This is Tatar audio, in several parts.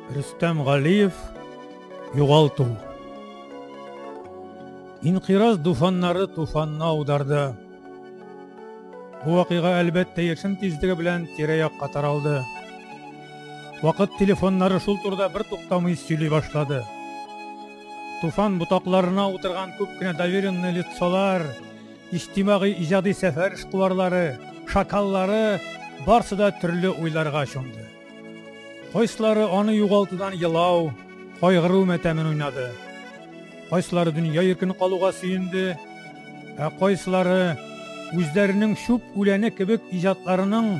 Рөстәм Галиев югалту. Инкыйраз дуфаннары туфанны аударды. Бу вакыйга әлбәттә яшен тизлеге белән тирә-якка таралды. Вакыт телефоннары шул турыда бер туктамый сөйли башлады. Туфан ботакларына утырган күп кенә доверенный лицолар Иҗтимагый иҗади сәфәр эшкуарлары, шакаллары барсы да төрле уйларга чумды. Кайсылары аны югалтудан елау, кайгыру мәтәмен уйнады. Кайсылары дөнья иркен калуга сөенде, ә кайсылары үзләренең чүп үләне кебек иҗатларының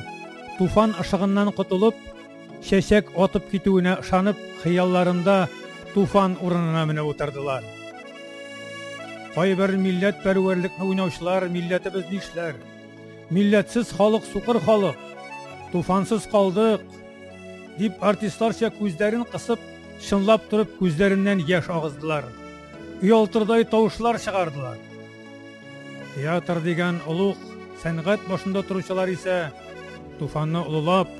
туфан ышыгыннан котылып, Чәчәк атып китүенә ышанып, хыялларында туфан урынына менеп утырдылар. Кайбер милләт пәрвәрлекне уйнаучылар милләтебез нишләр? Милләтсез халык сукыр халык. Туфансыз калдык, дип артистларча күзләрен кысып, чынлап торып күзләреннән яшь агыздылар. Уялтырдай тавышлар чыгардылар. Театр дигән олуг сәнгать башында торучылар исә туфанны олылап,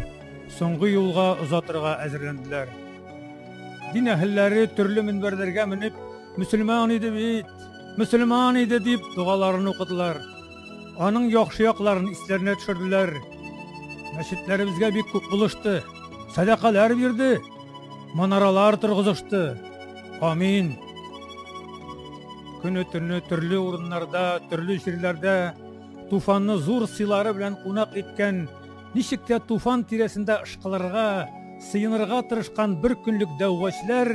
Соңгы юлга озатырга әзерләнделәр. Дин әһелләре төрле мөнбәрләргә менеп, мөселман иде бит, мөселман иде дип догаларын укыдылар. Аның яхшы якларын исләренә төшерделәр. Мәчетләребезгә бик күп булышты, сәдакалар бирде, манаралар торгызышты. Амин. Көне төне төрле урыннарда, төрле җирләрдә туфанны зур сыйлары белән кунак иткән Ничек тә туфан тирәсендә ышкылырга, сыенырга тырышкан бер көнлек дәүгачьләр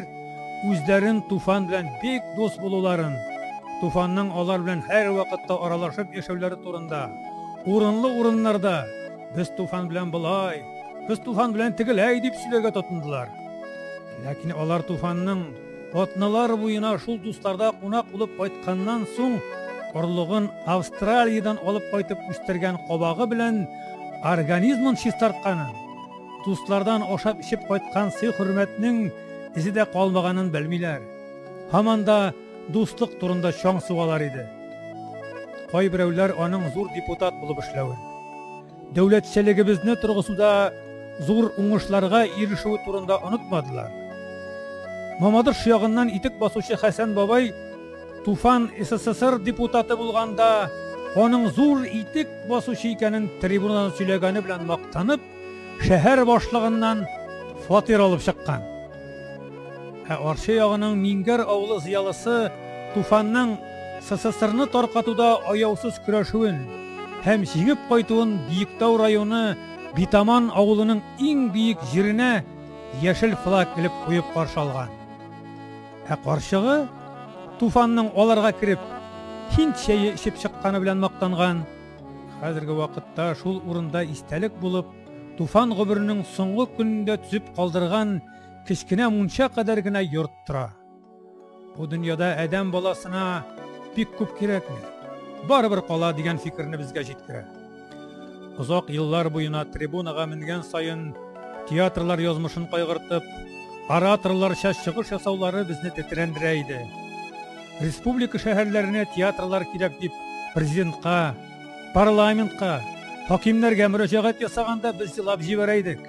үзләрен туфан белән бик дус булуларын, туфанның алар белән һәрвакытта аралашып яшәүләре турында, урынлы урыннарда Без туфан белән болай, без туфан белән тегеләй дип сөйләргә тотындылар. Ләкин алар туфанның Атналар буена шул дусларда кунак булып кайтканнан соң, орлыгын Австралиядән алып кайтып үстергән кабагы белән организмын чистартканын, дуслардан ашап-эчеп кайткан сый-хөрмәтнең эзе дә калмаганын белмиләр. Һаман да дуслык турында чаң сугалар иде. Кайберәүләр аның зур депутат булып эшләвен. дәүләтчелегебезне торгызуда зур уңышларга ирешүе турында онытмадылар. Мамадыш ягыннан итек басучы Хәсән бабай Туфан СССР депутаты булганда аның зур итек басучы икәнен трибунадан сөйләгәне белән мактанып, шәһәр башлыгыннан фатир алып чыккан. Ә Арча ягының Мингәр авылы зыялысы Туфанның СССРны таркатуда аяусыз көрәшүен һәм җиңеп кайтуын Биектау районы Битаман авылының иң биек җиренә яшел флаг элеп куеп каршы алган. Ә карчыгы Туфанның аларга кереп, һинд чәе эчеп чыкканы белән мактанган. Хәзерге вакытта шул урында истәлек булып, Туфан гомеренең соңгы көнендә төзеп калдырган кечкенә мунча кадәр генә йорт тора. Бу дөньяда адәм баласына бик күп кирәкми. Барыбер кала дигән фикерне безгә җиткерә. Озак еллар буена трибунага менгән саен театрлар язмышын кайгыртып, ораторларча чыгыш ясаулары безне тетрәндерә иде. Республика шәһәрләренә театрлар кирәк дип президентка Парламентка, хакимнәргә мөрәҗәгать ясаганда без елап җибәрә идек.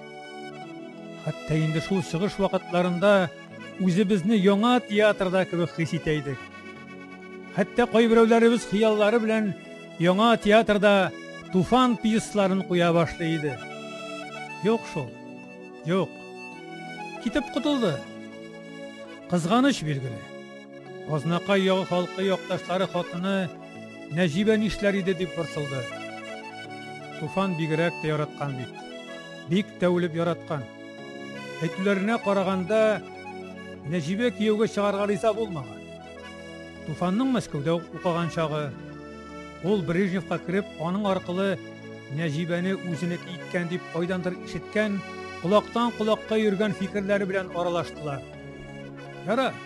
Хәтта инде шул чыгыш вакытларында үзебезне яңа театрда кебек хис итә идек. Хәтта кайберәүләребез хыяллары белән яңа театрда Туфан пьесларын куя башлый иде. Юк шул. Юк. Китеп котылды. Кызганыч билгеле. Азнакай ягы халкы якташлары хатыны Нәҗибә нишләр иде дип борчылды. Туфан бигрәк тә яраткан бит. Бик тә үлеп яраткан. Әйтүләренә караганда, Нәҗибә кияүгә чыгарга риза булмаган. Туфанның Мәскәүдә укыган чагы, ул Брежневка кереп, аның аркылы Нәҗибәне үзенеке иткән дип кайдандыр ишеткән, колактан колакка йөргән фикерләре белән аралаштылар. Яра,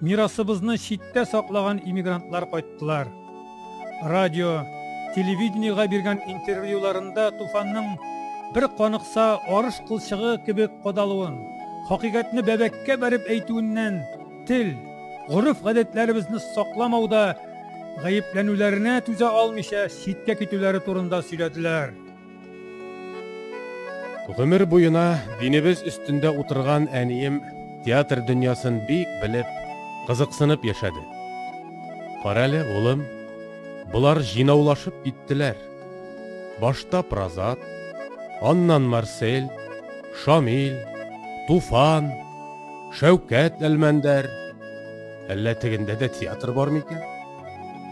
Мирасыбызны читтә саклаган иммигрантлар кайттылар. Радио, телевидениега биргән интервьюларында туфанның бер каныкса арыш кылчыгы кебек кадалуын, хакыйкатьне бәбәккә бәреп әйтүеннән тел, гореф-гадәтләребезне сакламауда гаепләнүләренә түзә алмыйча читкә китүләре турында сөйләделәр. Гомер буена динебез өстендә утырган әнием театр дөньясын бик белеп, кызыксынып яшәде. Карале, улым, болар җыйнаулашып киттеләр. Башта Празат, аннан Марсель, Шамил, Туфан, Шәүкәт Әлмәндәр. Әллә тегендә дә театр бар микән?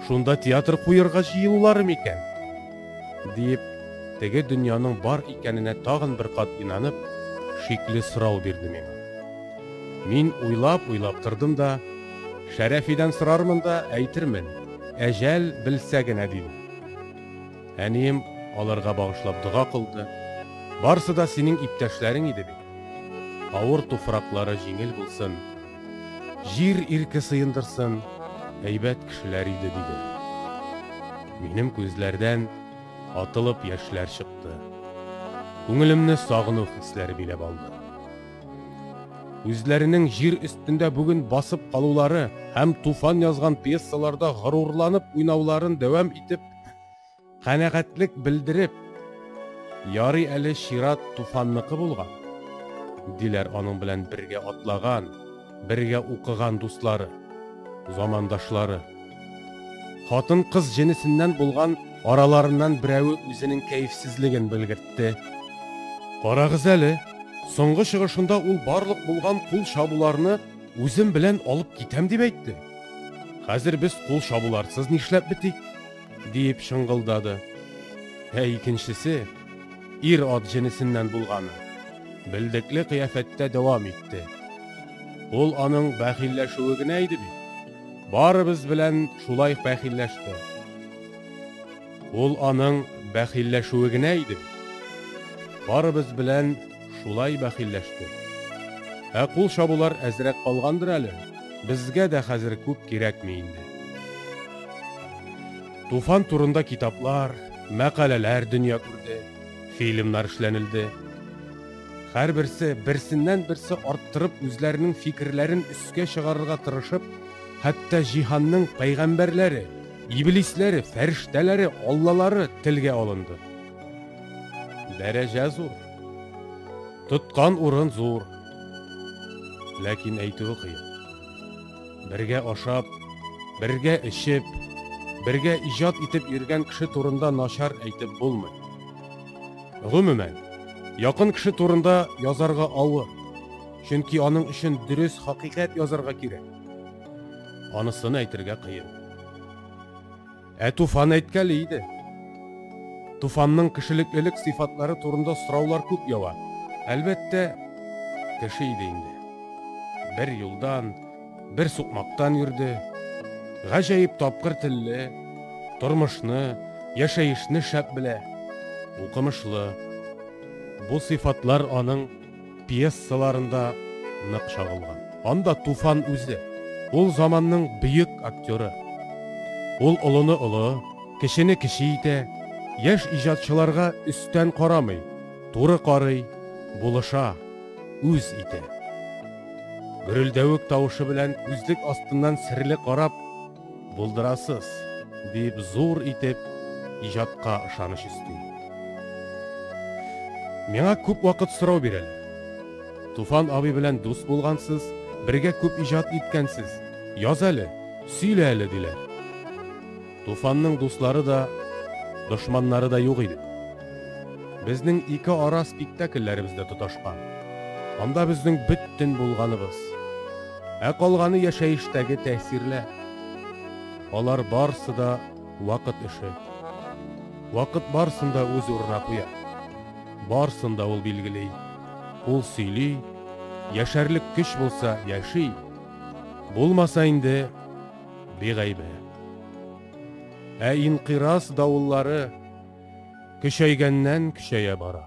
Шунда театр куерга җыелулары микән? Диеп, теге дөньяның бар икәненә тагын бер кат инанып, шикле сорау бирде миңа. Мин уйлап-уйлап тордым да, Шәрәфидән сорармын да, әйтермен, әҗәл белсә генә, дидем. Әнием аларга багышлап дога кылды. Барсы да синең иптәшләрең иде бит. Авыр туфраклары җиңел булсын, Җир ирке сыендырсын, әйбәт кешеләр иде, диде. Минем күзләрдән атылып яшьләр чыкты. Күңелемне сагыну хисләре биләп алды. Үзләренең җир өстендә бүген басып калулары һәм Туфан язган пьесаларда горурланып уйнауларын дәвам итеп, Канәгатьлек белдереп, Ярый әле чират Туфанныкы булган, диләр аның белән бергә атлаган, бергә укыган дуслары, замандашлары. Хатын-кыз җенесеннән булган араларыннан берәве үзенең кәефсезлеген белгертте. Карагыз әле, соңгы чыгышында ул барлык булган кул чабуларны үзем белән алып китәм дип әйтте. Хәзер без кул чабуларсыз нишләп бетик? Диеп шыңгылдады. Ә икенчесе, ир ат җенесеннән булганы, белдекле кыяфәттә дәвам итте. Ул аның бәхилләшүе генә иде бит. Барыбыз белән шулай бәхилләште. Ул аның бәхилләшүе генә иде. Барыбыз белән Шулай бәхилләштек. Ә кул чабулар әзрәк калгандыр әле, безгә дә хәзер күп кирәкми инде. Туфан турында китаплар, мәкаләләр дөнья күрде, фильмнар эшләнелде. Һәрберсе берсеннән-берсе арттырып үзләренең фикерләрен өскә чыгарырга тырышып, хәтта җиһанның пәйгамбәрләре, иблисләре, фәрештәләре, аллалары телгә алынды. Дәрәҗә зур. Тоткан урын зур. Ләкин әйтүе кыен. Бергә ашап, бергә эчеп, бергә иҗат итеп йөргән кеше турында начар әйтеп булмый. Гомумән, якын кеше турында язарга авыр, чөнки аның өчен дөрес хакыйкать язарга кирәк. Анысын әйтергә кыен. Ә Туфан әйткәли иде. Туфанның кешелеклелек сыйфатлары турында сораулар күп ява. Әлбәттә, кеше иде инде. Бер юлдан, бер сукмактан йөрде. Гаҗәеп тапкыр телле, тормышны, яшәешне шәп белә, укымышлы. Бу сыйфатлар аның пьесаларында нык чагылган. Анда Туфан үзе, ул заманның бөек актеры. Ул олыны олы, кечене кече итә, яшь иҗатчыларга өстән карамый, туры карый, булыша, үз итә. Гөрелдәвек тавышы белән күзлек астыннан серле карап, Булдырасыз, дип зур итеп иҗатка ышаныч өсти. Миңа күп вакыт сорау бирәләр. Туфан абый белән дус булгансыз, бергә күп иҗат иткәнсез. Яз әле, сөйлә әле, диләр. Туфанның дуслары да, дошманнары да юк иде. Безнең ике ара спектакльләребез дә тоташкан. Анда безнең бөтен булганыбыз. Ә калганы яшәештәге тәэсирләр. Алар барсы да вакыт эше. Вакыт барсын да үз урына куя. Барсын да ул билгели. Ул сөйли, яшәрлек көч булса, яши. Булмаса инде бигайбе. Ә инкыйраз давыллары көчәйгәннән көчәя бара.